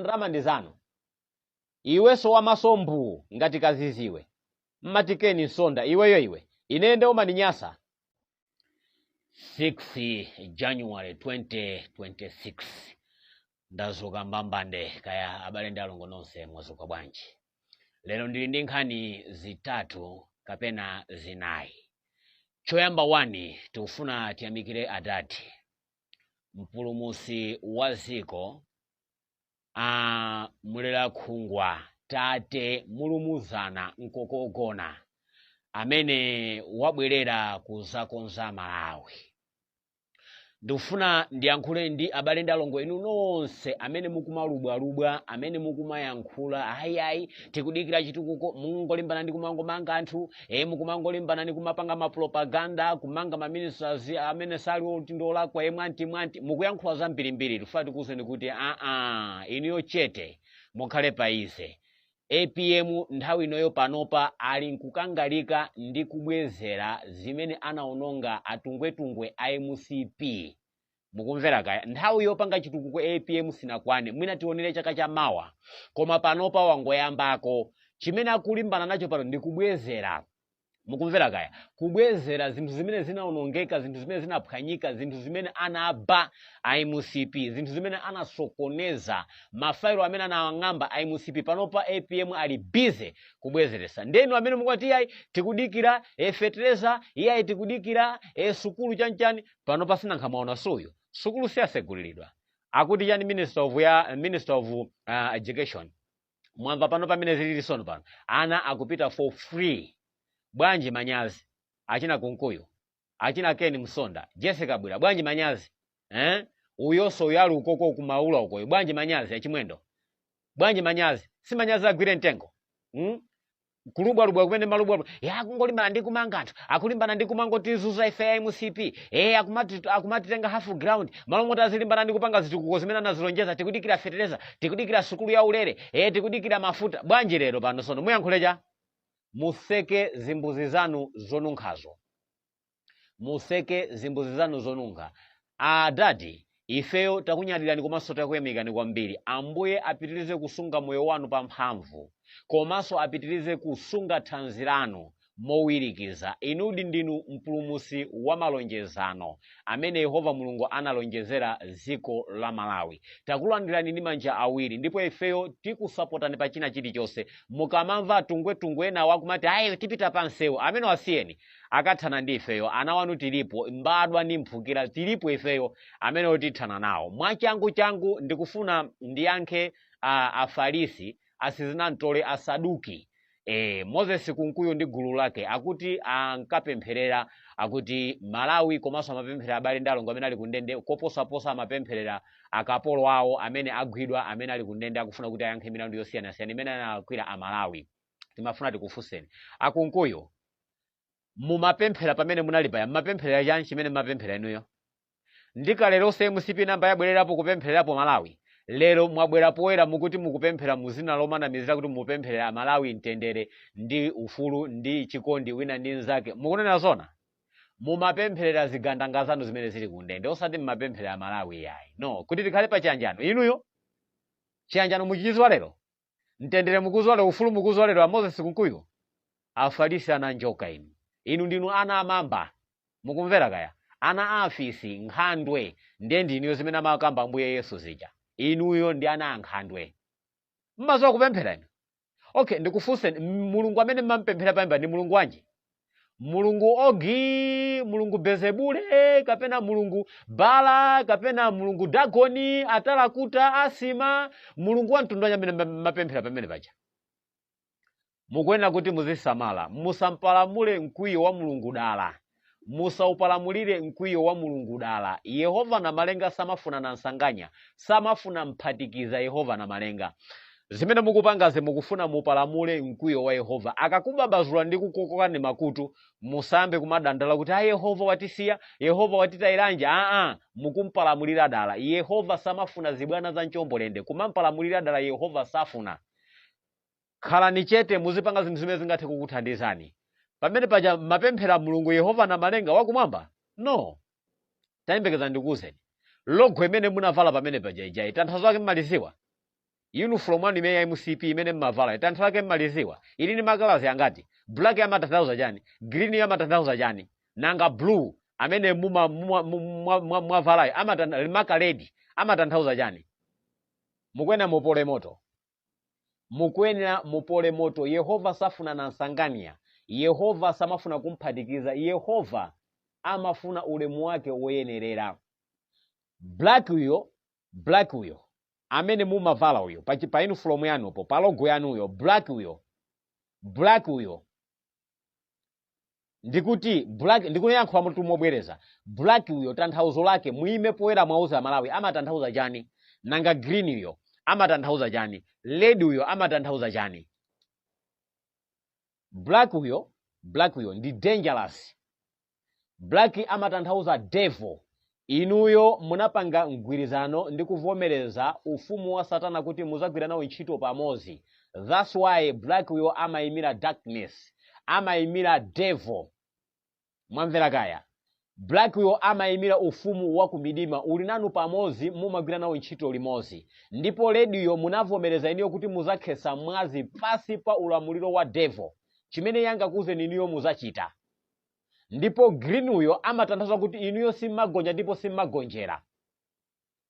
ndalama ndi zanu iwenso wamaso mbuu ngati kaziziwe ngati keni msonda iweyo iwe ine nde umaninyasa 6 january 2026 ndazuka mbambande kaya abale ndi alongo nonse mwazuka bwanji lero ndili ndi nkhani zitatu kapena zinayi choyamba 1 tikufuna tiyamikire adadi mpulumusi wa ziko a mulera khungwa tate mulumuzana mkokogona amene wabwerera kuzakonza malawi ndikufuna ndiyankhule ndi abale ndi alongo inu nonse amene mukumalubwalubwa amene mukumayankhula ayiayi tikudikira chitukuko mungolimbana ndi kumangomanga anthu e mukumangolimbana ni kumapanga mapropaganda kumanga maminista amene sali oti ndolakwa e mwanti mwanti mukuyankhula zambirimbiri tifuna tikuwuzeni kuti aa inuyo chete mukhale pa ize apm nthawi inoyo panopa ali nkukangalika ndi kubwezera zimene anaononga atungwetungwe a mcp mukumvera kaya nthawi yopanga chitukuko apm sinakwane mwina tionere chaka cha mawa koma panopa wangoyambako chimene akulimbana nacho pano ndi kubwezera mukumvera kaya kubwezera zinthu zimene zinaonongeka zinthu zimene zinaphwanyika zinthu zimene anaba a mcp zinthu zimene anasokoneza mafailo amene anawang'amba a mcp panopa apm ali busy kubwezeresa ndenu amene mukwati iyayi tikudikira e fetereza iyayi tikudikira e sukulu chanchani panopa si nanga mwaona suyu sukulu siyasegulilidwa akuti chani minister of education mwamva pano pamene zilili sono pano ana akupita for free bwanji manyazi achina kunkuyu achina ken msonda jessica bwira bwanji manyazi eh? uyoso yo ali ukoko kumaula ukoyo bwanji manyazi achimwendo bwanji manyazi si manyazi agwire mtengo hmm? kulubwalubwa kumene malubwalubwa e akungolimbana ndi kumanga anthu akulimbana ndi kumangotizuza ife a mcp e akumatitenga for granted malo moti azilimbana ndi kupanga zitukuko zimene anazilonjeza tikudikira fetereza tikudikira sukulu ya ulere e tikudikira mafuta bwanji lero pano sono muyankhule cha mutseke zimbuzi zanu zonunkhazo mutseke zimbuzi zanu zonunkha adadi ifeyo takunyadirani komanso takuyamikani kwambiri ambuye apitirize kusunga moyo wanu pa mphamvu komanso apitirize kusunga thanzi lanu mowirikiza inudi ndinu mpulumusi wa malonjezano amene yehova mulungu analonjezera dziko la malawi takulandirani ndi manja awiri ndipo ifeyo tikusapotani pa china chilichonse mukamamva atungwetungwe enawo akumati ayi tipita pa msewu amene wasiyeni akathana ndi ifeyo ana wanu tilipo mbadwa ndi mphukira tilipo ifeyo amene otithana nawo mwachangu changu ndikufuna ndiyankhe afarisi asizinamtole asaduki moses kunkuyu ndi gulu lake akuti ankapempherera akuti malawi komanso amapempherera abale ndi alongo amene ali kundende koposaposa amapempherera akapolo awo amene agwidwa amene ali kundende akufuna kuti ayankhe milandu yosiyanasiyana imene analakwira amalawi timafuna tikufunseni akunkuyu mumapemphera pamene munali paya mumapempherera chani chimene mumapemphera inuyo ndi kale lonse mcp nambala yabwerapo kupemphererapo malawi lero mwabwera poyera mukuti mukupemphera mu zina lomanamizira kuti mupempherera amalawi mtendere ndi ufulu ndi chikondi wina ndi nzake mukunena zona mumapempherera zigandanga zanu zimene zili kundende osati mumapempherera amalawi yayi no kuti tikhale pa chiyanjano inuyo chiyanjano muchiziwa lero mtendere mukuuziwa lero ufulu mukuuziwa lero moses kunkuyu afalisi ana njoka inu inu ndinu ana amamba mukumvera kaya ana afisi nkhandwe ndiye ndinuyo zimene amakamba ambuye yesu zija inuyo ndi ana a nkhandwe mmaziwa kupemphera inu okay ndikufunseni mulungu amene mmampemphera payamba ndi mulungu wanji mulungu ogi mulungu belezebule kapena mulungu bala kapena mulungu dagoni atalakuta asima mulungu wa mtundu wanji amene mmapemphera pamene paja mukuyenera kuti muzisamala musapalamule mkwiyo wa mulungu dala musaupalamulire mkwiyo wa mulungu dala yehova na malenga samafuna na nsanganya samafuna mphatikiza yehova na malenga zimene mukupangazi mukufuna mupalamule mkwiyo wa yehova akakubabazula ndi kukukokani makutu musayambe kumadandala kuti a yehova watisiya yehova watitayiranji aa mukumpalamulira dala yehova samafuna zibwana za mchombolende kumampalamulira dala yehova safuna khalani chete muzipanga zinthu zimene zingathe kukuthandizani pamene paja mmapemphera mulungu yehova na malenga wakumwamba no tayembekezani ndikuwuzeni logo imene munavala pamene paja ijayi tanthauzo lake mmaliziwa Uniform wanu imene ya mcp imene mmavalayo tanthauzo lake mmaliziwa ili ndi makalazi angati black amatanthauza chani green yo amatanthauza chani nanga blue amene muma mwa- mwa- mwa- mwavalayo amatan- maka ledi amatanthauza chani mukuyenera mupole moto mukuyenera mupole moto yehova safuna na nsanganya yehova samafuna kumphatikiza yehova amafuna ulemu wake woyenerera black uyo black uyo amene mumavala uyo pa chi- pa uniform yanupo pa logo yanu uyo black uyo black uyo ndikuti black ndikuyankhulatu mobwereza black uyo tanthauzo lake muime poyera mwauza malawi amatanthauza chani nanga green uyo amatanthauza chani red uyo amatanthauza chani black uyo black uyo ndi dangerous Black amatanthauza devil. Inuyo munapanga mgwirizano ndi kuvomereza ufumu wa satana kuti muzagwira nawo ntchito pamodzi. That's why black uyo amaimira darkness. Amaimira devil. Mwamvera kaya? Black uyo amaimira ufumu wa kumidima uli nanu pamodzi mumagwira nawo ntchito limodzi. Ndipo red uyo munavomereza inuyo kuti muzakhetsa mwazi pasi pa ulamuliro wa devil. Chimene angakuuzeni inuyo muzachita. ndipo green uyo amatanthauza kuti inuyo simmagonja ndipo simmagonjera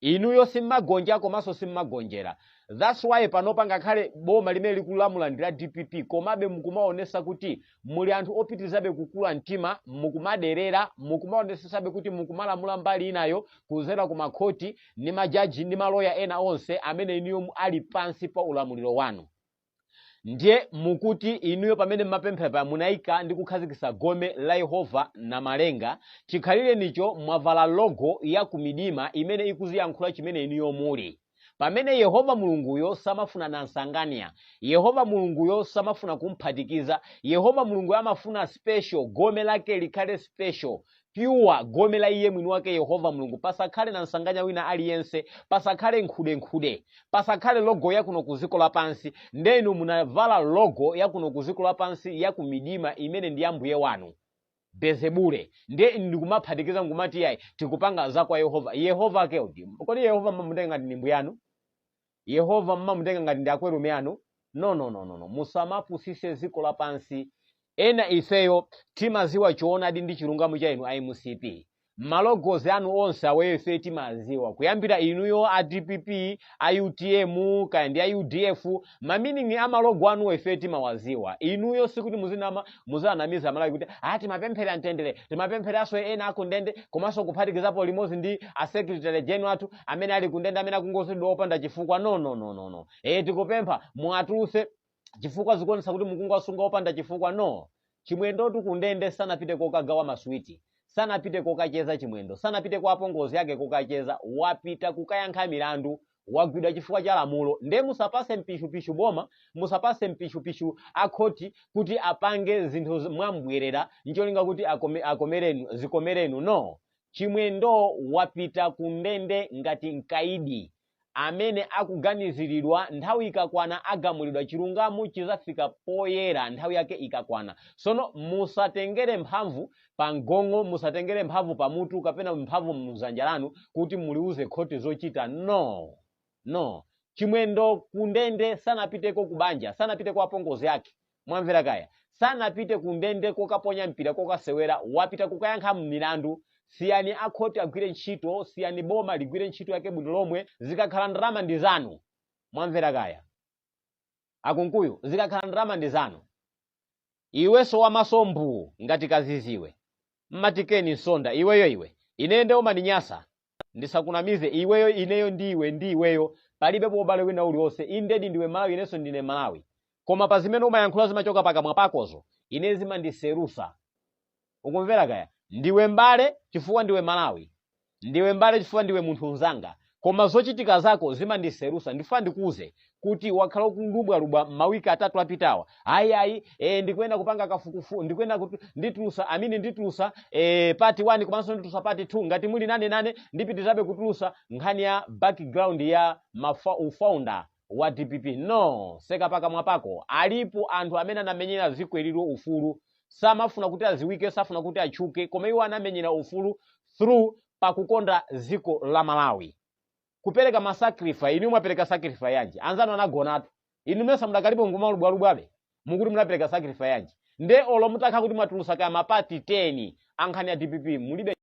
inuyo simmagonja komanso simmagonjera thats why panopa ngakhale boma limene likulamula ndi la dpp komabe mukumaonesa kuti muli anthu opitirizabe kukula mtima mukumaderera mukumaonesesabe kuti mukumalamula mbali inayo kuzera ku makhoti ndi majaji ndi maloya ena onse amene inuyo mu- ali pansi pa ulamuliro wanu ndiye mukuti inuyo pamene mmapemphera paja munaika ndi kukhazikitsa gome la yehova namalenga chikhalirenicho mwavala logo ya kumidima imene ikuziyankhula chimene inuyo muli pamene yehova mulunguyo samafuna nansanganya yehova mulunguyo samafuna kumphatikiza yehova mulunguyo amafuna special gome lake likhale special pure gome la iye mwini wake yehova mulungu pasakhale nansanganya wina aliyense pasakhale nkhudenkhude pasakhale logo ya kuno ku ziko lapansi nde inu munavala logo ya kuno ku ziko lapansi ya kumidima imene ndi ya mbuye wanu belezebule ndiye ndikumaphatikiza nkumati yayi tikupanga za kwa yehova yehova akewo ati kodi yehova mmamutenga ngati ndi mbuyanu yehova mmamutenga ngati ndi akwerume anu no no no no no musamapusise ziko lapansi ena ifeyo timaziwa choonadi ndi chilungamo cha inu a mcp malogozi anu onse awayo ife timaziwa kuyambira inuyo a dpp a utm kaya ndi a udf maminingi a malogo anuwo ife timawaziwa inuyo sikuti muzinama muzanamiza malawi kuti a timapemphera mtendere timapempheranso ena akundende komanso kuphatikizapo limodzi ndi a secretary general athu amene ali kundende amene akungozengedwa opanda chifukwa no no no no no eh tikupempha muatuluse chifukwa zikuonesa kuti mukuwasunga opanda chifukwa no chimwendotu kundende sanapite kokagawa maswiti sanapite kokacheza chimwendo sanapite kwa apongozi ake kokacheza wapita kukayankha milandu wagwidwa chifukwa cha lamulo nde musapase mpishupishu boma musapase mpishupishu akhoti kuti apange zinthu z- mwambwerera ncholinga kuti akome, akomerenu zikomere inu no Chimwendo wapita ku ndende ngati mkaidi amene akuganiziridwa nthawi ikakwana agamulidwa chilungamo chizafika poyera nthawi yake ikakwana sono musatengere mphamvu pa mgong'o musatengere mphamvu pa mutu kapena mphamvu mzanja lanu kuti muliuze khoti zochita no no chimwendo kundende sanapite kubanja sanapite kwa apongozi ake mwamvera kaya sanapite kundende kokaponya mpira kokasewera wapita kukayankha milandu siyani akhoti agwire ntchito siyani boma ligwire ntchito yake bwino lomwe zikakhala ndalama ndi zanu mwamvera kaya akunkuyu zikakhala ndalama ndi zanu iwenso wamaso mbuu ngati kadzidzi iwe mmatikeni nsonda iweyo iwe ineyo nde umandinyasa ndisakunamize iweyo ineyo ndi iwe ndi iweyo palibepo ubale wina uliwonse indedi ndiwe malawi inenso ndine malawi koma pa zimene umayankhula zimachoka pakamwa pakozo ine zimandiselusa ukumvera kaya ndiwe mbale chifukwa ndiwe malawi ndiwe mbale chifukwa ndiwe munthu mnzanga koma zochitika zako zimandiselusa ndifuna ndikuuze kuti wakhala ukulubwalubwa mawiki atatu apitawa ayi ayi ndikuyenda kupanga kafukufu ndikuyenda kuti nditulusa I mean nditulusa part 1 komanso nditulusa part 2 ngati muli nane nane ndipitizabe kutulusa nkhani ya background ya mafa, ufounder wa dpp no seka pakamwa pako alipo anthu amene anamenyera dziko ililo ufulu samafuna kuti aziwike safuna kuti atchuke koma iwo anamenyera ufulu through pakukonda dziko la malawi kupereka masacrifice inu mwapereka sacrifice yanji anzanu anagonatu inu mesa mudakalipo nkumalubwalubwabe mukuti munapereka sacrifice yanji nde olo mutakha kuti mwatulusa kaya mapati 10 ankhani ya dpp mulibe